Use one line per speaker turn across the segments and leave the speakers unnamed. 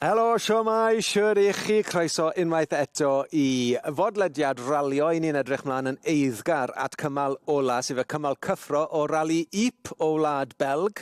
Helo, siwmai, siwr i chi, croeso unwaith eto i fodlediad ralio. I ni'n edrych mlaen yn eiddgar at cymal ola, sef y cymal cyffro o rali Yp o Wlad Belg.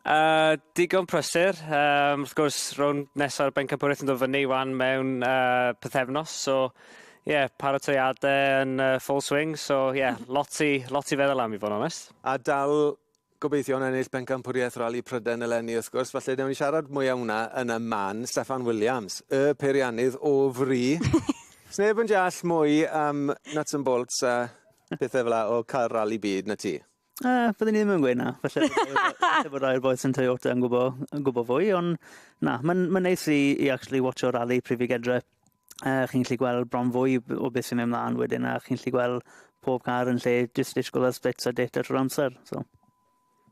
Yy digon
prysur yym wrth gwrs rownd nesa'r bencampwriaeth yn dod fyny 'wan mewn yy pythefnos so ie paratoade yn yy full swing so ie lot i lot i feddwl am i fod yn onest. A dal
gobeithio am ennill bencampwriaeth Rali Pryden eleni wrth gwrs falle newn ni siarad mwy am wna yn y man. Steffan Williams y peiriannydd o fri. Sneb yn deall mwy am nuts and bolts a pethe fel 'a o ca'l rali byd na ti. Uh, byddwn ni ddim yn
gweud na. Felly, felly bod rhai'r boes yn Toyota yn gwybod, yn gwybod fwy, ond na, mae'n ma neis i, i actually watcho rally Prifigedre. Uh, chi'n gallu gweld bron fwy o beth sy'n mynd mlaen wedyn, a chi'n gallu gweld pob car yn lle just disgwyl ar splits a data trwy'r amser. So.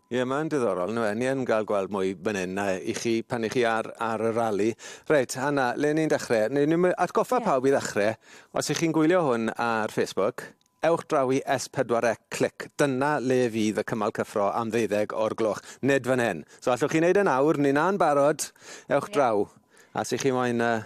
Ie, yeah, mae'n
diddorol. Nw, ni yn cael gweld mwy fan hyn na i chi pan i chi ar, ar y rali. Reit, Anna, le ni'n dechrau? Ni'n atgoffa yeah. pawb i ddechrau. Os ych chi'n gwylio hwn ar Facebook, Ewch draw i S pedwar C clic, dyna le fydd y cymal cyffro am ddeuddeg o'r gloch, nid fan hyn. So allwch chi wneud e nawr, ni na'n barod, ewch draw. A os 'y chi moyn yy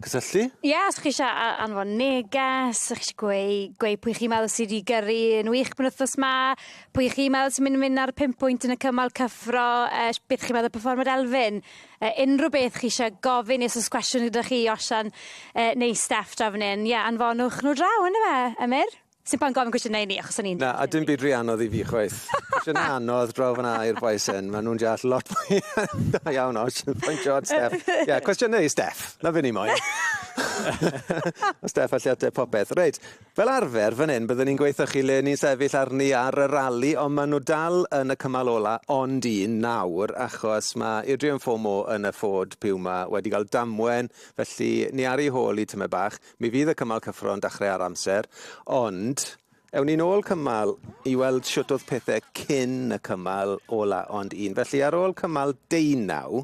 cysylltu? Ie os chi isie
a- anfon neges, chi isie gweu- gweu pwy chi meddwl sy 'di gyrru yn wych penwthnos 'ma, pwy chi meddwl sy'n myn' i myn' ar y pum pwynt yn y cymal cyffro, yy sh- beth chi meddwl o perfformiad Elfyn. Yy unrhyw beth chi eisiau gofyn, os oes cwestiwn gyda chi i Osian yy neu Steff draw fan hyn, ie, anfonwch nhw draw, yndyfe, yy Emyr? Sdim point gofyn cwestiynau i ni achos o'n ni'n deall... Na, a dim byd rhy anodd
i fi chwaith. Cwestiynau anodd draw fan'na i'r bois hyn, ma' nhw'n deall lot mwy da iawn ots, pointio at Steff. Ie, cwestiynau i Steff, 'na be ni moyn. Ma' Steff allu ateb popeth. Reit. Fel arfer fan hyn bydden ni'n gwaethychu le ni'n sefyll arni ar y rali ond maen nhw dal yn y cymal ola ond un nawr achos mae Adrian Fomo yn y Ford Puma wedi cael damwen felly ni ar ei hôl i tymed bach. Mi fydd y cymal cyffro'n dachrau ar amser ond ewn ni nôl cymal i weld shwt oedd pethau cyn y cymal ola ond un felly ar ôl cymal deunaw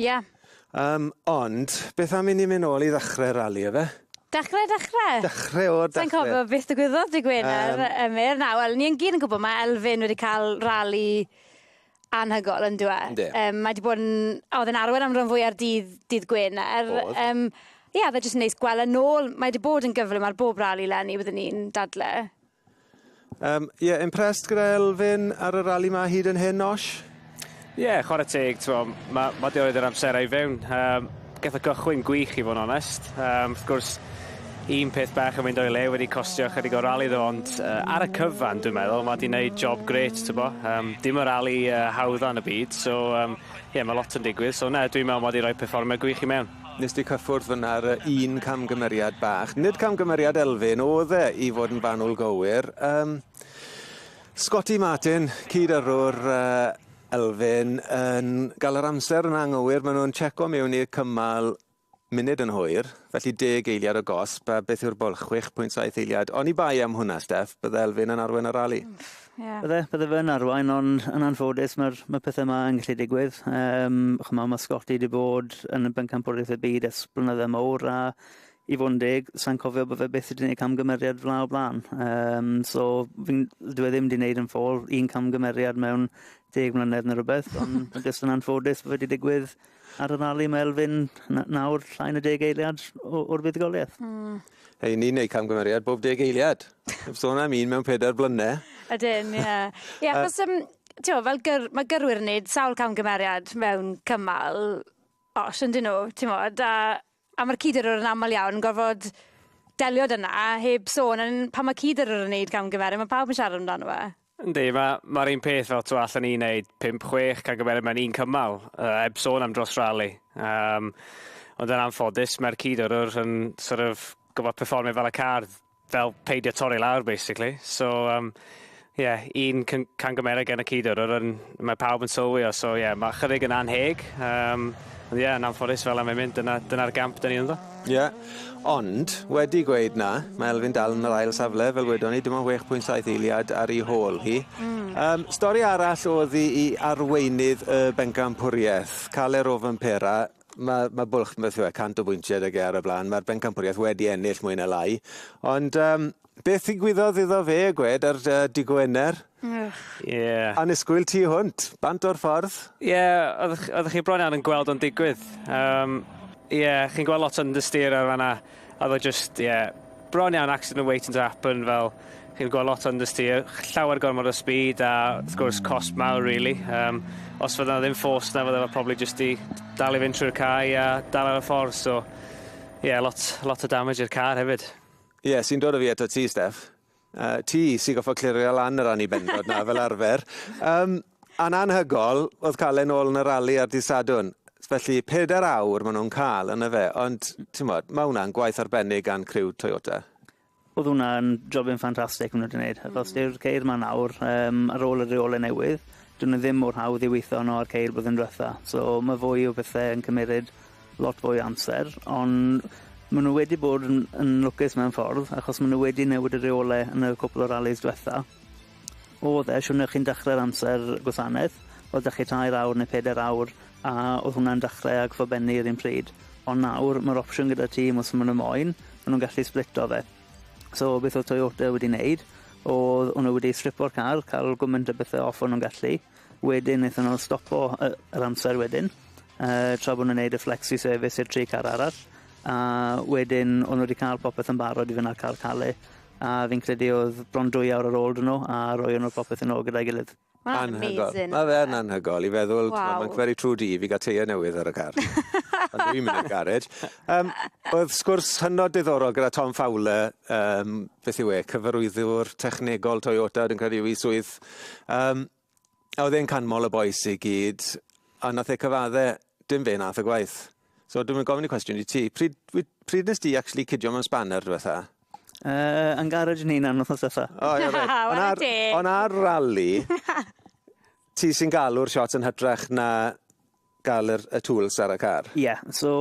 Ie. Yym,
ond,
beth am i ni myn' nôl i ddechre'r rali yfe? Dechre dechre?
Dechre
o'r dechre. Sai'n cofio beth ddigwyddodd
dy' Gwener... Yym. ...Emyr. Na, wel, ni yn gyd yn gwbo ma' Elfyn wedi ca'l rali anhygol on'd yw e? Yndi. Yym mae 'di bod 'n... A o'dd e'n arwen am ran fwya'r dydd dydd Gwener. O'dd. Yym ie, o'dd e jyst yn neis gwel' e nôl. Mae 'di bod yn gyflym ar bob rali 'leni byddwn i'n dadle.
Um, yeah, impressed gyda Elfyn ar y rali ma hyd yn hyn, Osh? Ie, yeah, chwarae
teg, mae ma di oedd yr amserau i fewn. Um, Geth o gychwyn gwych i fod yn onest. Um, wrth gwrs, un peth bach yn mynd o'i le wedi costio chydig o rali ddo, ond uh, ar y cyfan, dwi'n meddwl, mae di wneud job gret, ti'n bo. Um, dim y rali uh, hawdda yn y byd, so, um, yeah, mae lot yn digwydd. So, na, dwi'n meddwl mae di rhoi perfformio gwych i mewn. Nes di cyffwrdd fynna
ar y un camgymeriad bach. Nid camgymeriad Elfyn oedd e i fod yn fanwl gywir. Um, Scotty Martin, cyd yrwr uh, Elfyn, yn gael yr amser yn anghywir. Maen nhw'n checo mewn i'r cymal munud yn hwyr, felly deg eiliad o gosb, a beth yw'r bol? 6.7 eiliad. Oni bai am hwnna, Steff, bydde Elfyn yn arwen y rali. Mm. Ie. Bydde, bydde
fe yn arwain, ond yn anffodus mae'r mae pethau yma yn gallu digwydd. Um, chymma, mae Scotty wedi bod yn y bencampwriaeth y byd ers blynydde mawr a i fod yn deg, sa'n cofio bod fe beth wedi gwneud camgymeriad fla o blaen. Um, so, fi'n, dwi e ddim wedi gwneud yn ffôl un camgymeriad mewn deg mlynedd neu rhywbeth, ond jyst yn anffodus bod wedi digwydd Ar yr Ali, mae Elfyn nawr llai na deg eiliad o'r fuddugoliaeth. Mm. Hei, ni'n
neud camgymeriad bob deg eiliad. Heb sôn am un mewn pedair blyne. Ydyn, ie.
Ie, achos, um, ti'o, fel gyr, mae gyrwyr yn neud sawl camgymeriad mewn cymal os yn dyn nhw, ti'n modd, a A ma'r cydyrrwr yn amal iawn yn gorfod delio 'da 'na heb sôn yn pan ma' cydyrrwr yn neud camgymere ma' pawb yn siarad amdano fe. Yndi,
ma' ma'r un peth fel t'mo' allen i neud pump chwech camgymere mewn un cymal, yy heb sôn am dros rali. Yym ond yn anffodus ma'r cydyrrwr yn sor' of gorfod perfformio fel y car. fel peidio torri lawr basically. So um, yeah, un cangymerau gen y cydwr, yr un mae pawb yn sylwi o, so yeah, mae chydig yn anheg. Um, ond yeah, yn anffodus fel am ei mynd, dyna'r dyna gamp dyn ni ynddo. Ie, yeah. ond
wedi gweud na, mae Elfyn dal yn yr ail safle, fel wedon ni, dim ond 6.7 eiliad ar ei hôl hi. Mm. Um, stori arall oedd i, i arweinydd y bencampwriaeth, Caler Ofenpera, Mae, mae bwlch, beth yw e, 100 o bwyntiau ag e ar y blaen. Mae'r bencampwriaeth wedi ennill mwy na lai. Ond um, beth ddigwyddodd iddo fe, gwed, ar uh, Di Gwener? Ie. Yeah. Anusgwyl tu hwnt, bant o'r ffordd. Ie, yeah, oeddech
chi bron iawn yn gweld o'n digwydd. Um, Ie, yeah, chi'n gweld lot o understeer ar fanna. Oedd o jyst, ie, bron iawn accident yn waiting to happen fel chi'n gweld lot o understeer, llawer gormod o speed a wrth gwrs cosb mawr rili. Um, os fydda ddim force na fydda fo probably jyst i dal i fynd trwy'r cae a dal ar y ffordd so ie yeah, lot, lot o damage i'r car hefyd. Ie, yeah, sy'n dod o fi
eto ti, Steph. Uh, ti sy'n goffa clirio lan yr anibendod na fel arfer. Um, a'n anhygol, oedd cael ei nôl yn y rali ar dydd Sadwn. Felly, pedair awr maen nhw'n cael yn y fe. Ond, ti'n modd, mae hwnna'n gwaith arbennig gan criw Toyota oedd hwnna'n
jobyn ffantastig maen nhw wedi gwneud, achos mm. dyw'r ceir ma nawr, um, ar ôl y reolau newydd, dyn nhw ddim mor hawdd i weithio yno ar ceir bydd yn diwetha. So mae fwy o bethau yn cymeryd lot fwy o amser ond ma' n'w wedi bod yn yn lwcus mewn ffordd achos ma' n'w wedi newid y reole yn y cwpwl o ralis dwetha. O'dd e siwrne chi'n dechre'r amser gwasanaeth o'dd 'da chi tair awr ne' peder awr a o'dd hwnna'n dechre ag fo benni yr un pryd ond nawr ma'r opsiwn gyda tîm os ma' n'w moyn ma' n'w'n gallu splito fe. So beth o'dd Toyota wedi neud o'dd o' n'w wedi stripo'r car ca'l gwment o bethe off o' n'w'n gallu Wedyn nethon nhw stopo yy yr amser wedyn yy tra bo' nw'n neud y flexi service i'r tri car arall a wedyn o'n nw 'di ca'l popeth yn barod i fyn' â'r car cale a fi'n credu o'dd bron dwy awr ar ôl 'dy nw a roion nw'r popeth yn ôl gyda'i gilydd. Ma' wnna'n amazing. Anhygol. Ma'
fe yn anhygol
i feddwl... Waw. ...t'mo' ma'n very true di i fi ga'l teie newydd ar y car. Pan dwi'n mynd i'r garej. Yym o'dd sgwrs hynod diddorol gyda Tom Fowler yym beth yw e cyfarwyddwr technegol Toyota dwi'n credu yw 'i swydd. Um, a oedd e'n canmol y boes i gyd, a nath e cyfadde, dim fe nath y gwaith. So dwi'n mynd gofyn y cwestiwn i ti, pryd, pryd nes ti actually cydio mewn spanner diwetha? Uh, yn
garage ni na'n wythnos ytho. O, oh, yeah,
Ond ar rally, ti sy'n galw'r shots yn hytrach na ga'l yr y tools ar y car? Ie, so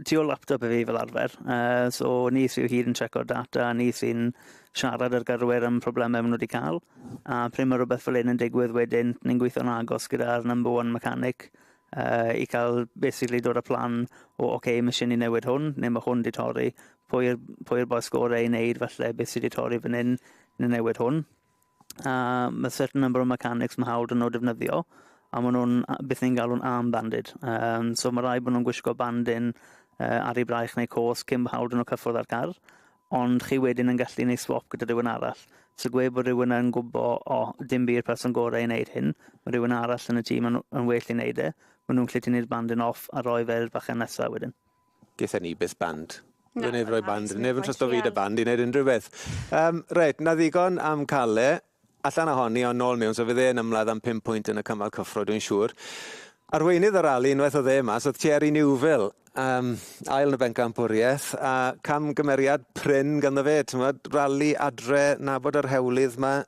tu ôl laptop i fi fel arfer, yy so ni sy o hyd yn checko'r data, ni sy'n siarad â'r gyrwyr am problemau ma' nw 'di ca'l, a pry' ma' rwbeth fel 'yn yn digwydd wedyn ni'n gweithio'n agos gyda'r number one mechanic yy i ca'l basically dod â plan o ocê ma' isie ni newid hwn ne' ma' hwn 'di torri, pwy yw'r pwy yw'r bois gore i neud falle beth sy' 'di torri fan 'yn, ne' newid hwn. a mae certain number o mechanics mae hawl dyn nhw defnyddio, a maen nhw'n beth ni'n galw'n arm banded. Um, so mae rai bod nhw'n gwisgo bandin uh, ar ei braich neu cos cyn bod hawl dyn nhw cyffwrdd â'r car, ond chi wedyn yn gallu gwneud swap gyda rhywun arall. So gwe bod rhywun yn gwybod, o, oh, dim byd person gorau i wneud hyn, mae rhywun arall yn y tîm yn, yn well i wneud e, maen nhw'n gallu tynnu'r bandin off a roi fe'r fachen nesaf wedyn. Gyda ni byth
band. Na, Rwy'n efo'r band. Neb yn trwy'n fi dy band i wneud unrhyw beth. Um, reit, na ddigon am cael e. Allan ohoni o'n nôl mewn, so fydd e'n ymladd am 5 pwynt yn y cymal cyffro, dwi'n siŵr. Arweinydd y rali, unwaith o dde mas, oedd Thierry Newville, um, ail yn y bencampwriaeth, a cam gymeriad prin ganddo fe, ti'n rali adre, nabod yr hewlydd yma,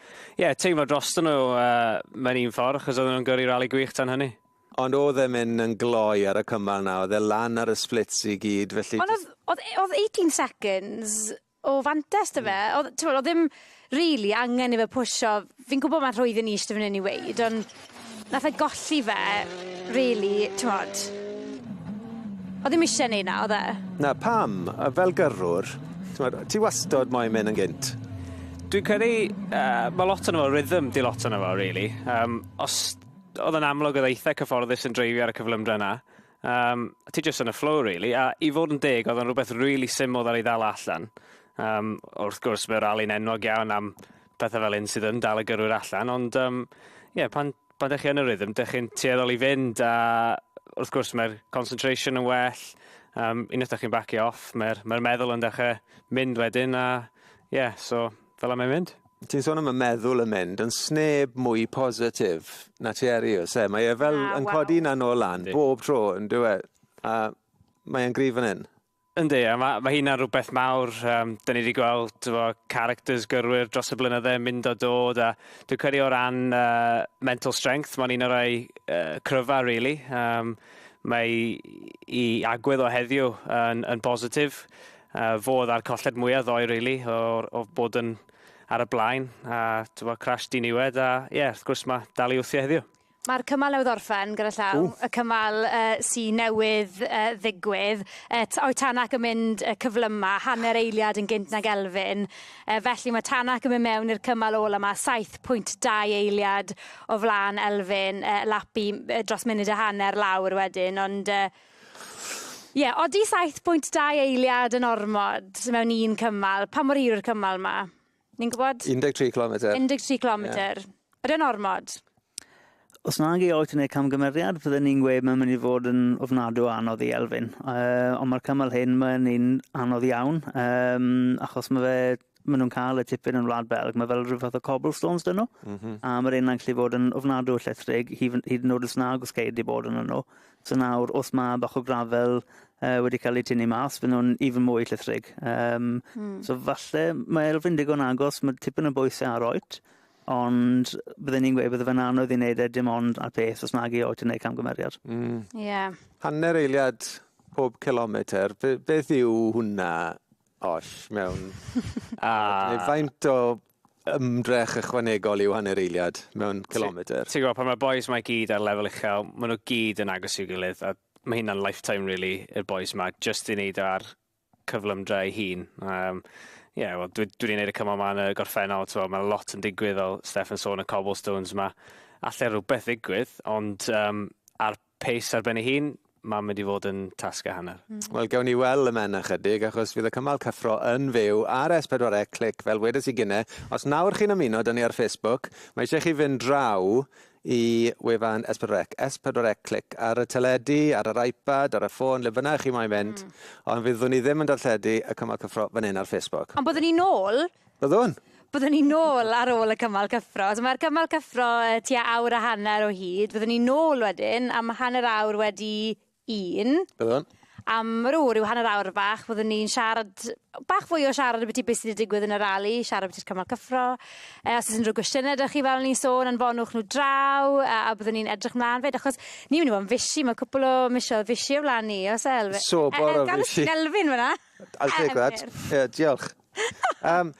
Ie, yeah, teimlo dros nhw uh, mewn un ffordd, achos oedden nhw'n gyrru rali gwych tan hynny. Ond oedd e'n mynd yn
gloi ar y cymal na, oedd e lan ar y splits i gyd, felly... Ond oedd, oedd 18
seconds o fantes dy fe, mm. oedd, oedd ddim really angen i fe pwysio, fi'n gwybod mae'n rhwydd yn eist i fan hyn i weid, ond Nath e golli fe rili t'mod? Odd ddim isie neud 'na odd e? Na pam? Yy
fel gyrrwr t'mod ti wastod moyn myn' yn gynt. Dwi'n credu
yy ma' lot ono fo rhythm 'di lot ono fo rili yym os odd o'n amlwg odd e itha cyfforddus yn dreifio ar y cyflymdra 'na yym ti jyst yn y flow rili a i fod yn deg odd o'n rwbeth rili syml ddaru ddal o allan yym wrth gwrs ma' rali'n enwog iawn am pethe fel hyn sydd yn dal y gyrwyr allan, ond um, yeah, pan, pan ydych chi yn y rhythm, ydych chi'n tueddol i fynd a wrth gwrs mae'r concentration yn well, um, unwaith ydych chi'n bacio off, mae'r mae meddwl yn dechrau mynd wedyn a yeah, so fel am ei mynd. Ti'n sôn am y meddwl
yn mynd, yn sneb mwy positif na ti eri, os e? Mae e fel na, yn wow. codi na nôl lan, bob tro, yn dweud. A mae'n gryf yn hyn. Yndi, a ma'
ma' hynna'n rhywbeth mawr, um, da ni wedi gweld tyfo, characters gyrwyr dros y blynydde yn mynd o dod, a dwi'n credu o ran uh, mental strength, mae'n un o'r ei uh, cryfa, really. Um, mae i agwedd o heddiw yn, yn bositif, uh, fodd a'r colled mwyaf ddoe, really, o, o bod yn ar y blaen, a tyfo, crash diniwed, a ie, yeah, wrth gwrs mae dal i wthio heddiw. Mae'r cymal newydd
orffen gyda llaw. Ww. Y cymal uh, sy newydd uh, ddigwydd. Uh, o'i Tanak yn mynd uh, cyflyma, hanner eiliad yn gynt nag Elfyn. Uh, felly mae Tanak yn mynd mewn i'r cymal ôl yma, 7.2 eiliad o flaen Elfyn. Uh, lapi uh, dros munud a hanner lawr wedyn, ond... Uh, Ie, yeah, odi 7.2 eiliad yn ormod mewn un cymal. Pa mor hir yw'r cymal yma? Ni'n gwybod? 13 kilometer. 13
kilometer.
Yeah. Ydy'n ormod? Os
nag i oed yn ei camgymeriad, fydden ni'n gweud mae'n mynd i fod yn ofnadw anodd i Elfyn. Uh, ond mae'r cymal hyn, mae'n un anodd iawn, um, achos mae fe maen nhw'n cael y tipyn yn Wlad Belg, mae fel rhywbeth o cobblestones dyn nhw, mm -hmm. a mae'r un yn gallu bod yn ofnadw o llethrig, hyd yn oed os nag os ceir di bod yn nhw. So nawr, os mae bach o grafel uh, wedi cael ei tynnu mas, fy nhw'n even mwy llithrig. Um, mm. So falle, mae Elfyn digon agos, mae tipyn o bwysau ar oed, ond byddwn ni'n gweud byddai fe'n anodd i wneud e dim ond ar peth os nag i oed yn gwneud camgymeriad. Mm. Yeah.
Hanner eiliad pob kilometr, be, beth yw hwnna oll mewn... A! ...neu faint o ymdrech ychwanegol yw hanner eiliad mewn cilometr? Ti'n gwybod, pan mae'r boys mae
gyd ar lefel uchel, maen nhw gyd yn agos i'w gilydd, a mae hynna'n lifetime, really, i'r boys yma, just i wneud ar cyflymdra ei hun. Um, ie, yeah, wel, dwi, dwi wedi gwneud y cymal yma yn y gorffennol, so, mae lot yn digwydd, fel Steph yn sôn, y cobblestones yma. Alla rhywbeth ddigwydd, ond um, ar Pace ar ben ei hun, mae'n mynd i fod yn tasg a hanner. Wel, gawn ni weld y
men ychydig, achos fydd y cymal cyffro yn fyw ar S4C Clic, fel wedes i gynne. Os nawr chi'n ymuno da ni ar Facebook, mae eisiau chi fynd draw i wefan S4C, S4C Clic, ar y teledu, ar yr iPad, ar y ffôn, le bynnag chi moyn mynd, ond fyddwn ni ddim yn darlledu y cymal cyffro fan hyn ar Facebook. Ond byddwn ni nôl
Byddwn.
Byddwn ni nôl
ar ôl y cymal cyffro. So mae'r cymal cyffro uh, tua awr a hanner o hyd. Byddwn ni nôl wedyn am hanner awr wedi un. Byddwn.
Am rhyw, rhyw
hanner awr bach, byddwn ni'n siarad bach fwy o siarad beth i beth sydd wedi digwydd yn y rali, siarad beth i'r cymal cyffro. Uh, os oes unrhyw gwestiynau ydych chi fel ni'n sôn, anfonwch nhw draw, uh, a byddwn ni'n edrych mlaen fyd, achos ni'n mynd i fod yn fysi, mae cwpl o misiodd fysi o flaen ni, os elfe. Sobor o fysi.
Elfyn fyna.
I'll take that.
Yeah, diolch. um,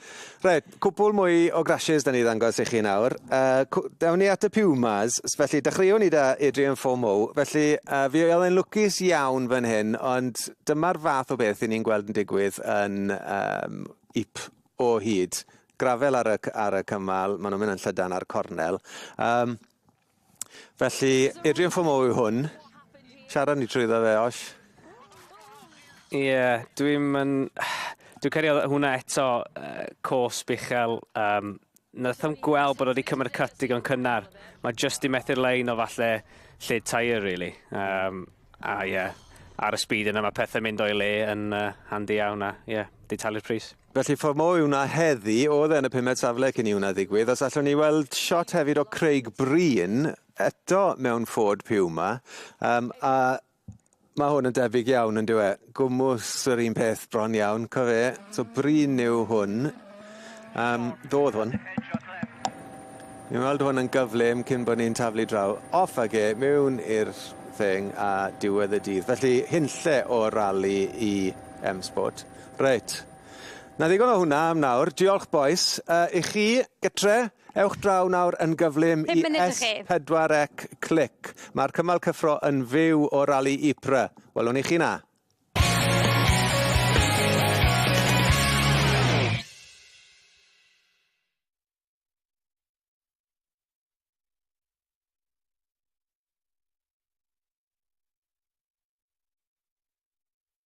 right, cwpl mwy o grashes da ni ddangos i chi nawr. Uh, dawn ni at y Pumas, felly dechreuwn ni da Adrian Fomo. Felly, uh, fi oedd yn lwcus iawn fan hyn, ond dyma'r fath o beth i ni'n gweld yn digwydd yn um, IP o hyd. Grafel ar y, ar y cymal, maen nhw'n mynd yn llydan ar cornel. Um, Felly, Adrian Fomo yw hwn. Siarad ni trwyddo fe, Osh. Ie, yeah,
dwi'n yn... Dwi'n cario hwnna eto uh, cos bichel. Um, Nath am gweld bod wedi cymryd cut digon cynnar. Mae just i methu'r lein o falle lle tair, really. Um, a ie, yeah, ar y speed yna mae pethau mynd o'i le yn uh, handi iawn a ie, yeah, di talu'r pris. Felly ffordd mo yw 'na
heddi, oedd e yn y pumed safle cyn i hwnna ddigwydd, os allwn ni weld shot hefyd o Craig Breen, eto mewn Ford Puma, um, a mae hwn yn debyg iawn yn dweud, e? Gwmws yr un peth bron iawn, cofe, so Breen yw hwn, um, ddodd hwn. Ni'n weld hwn yn gyflym cyn bod ni'n taflu draw off ag e mewn i'r thing a diwedd y dydd. Felly, hunlle o rali i M-Sport. Reit. 'Na ddigon o hwnna am nawr. Diolch bois. Yy i chi gytre, ewch draw nawr yn gyflym i S4C Click. Mae'r cymal cyffro yn fyw o Rali Ypres. Welwn i chi 'na.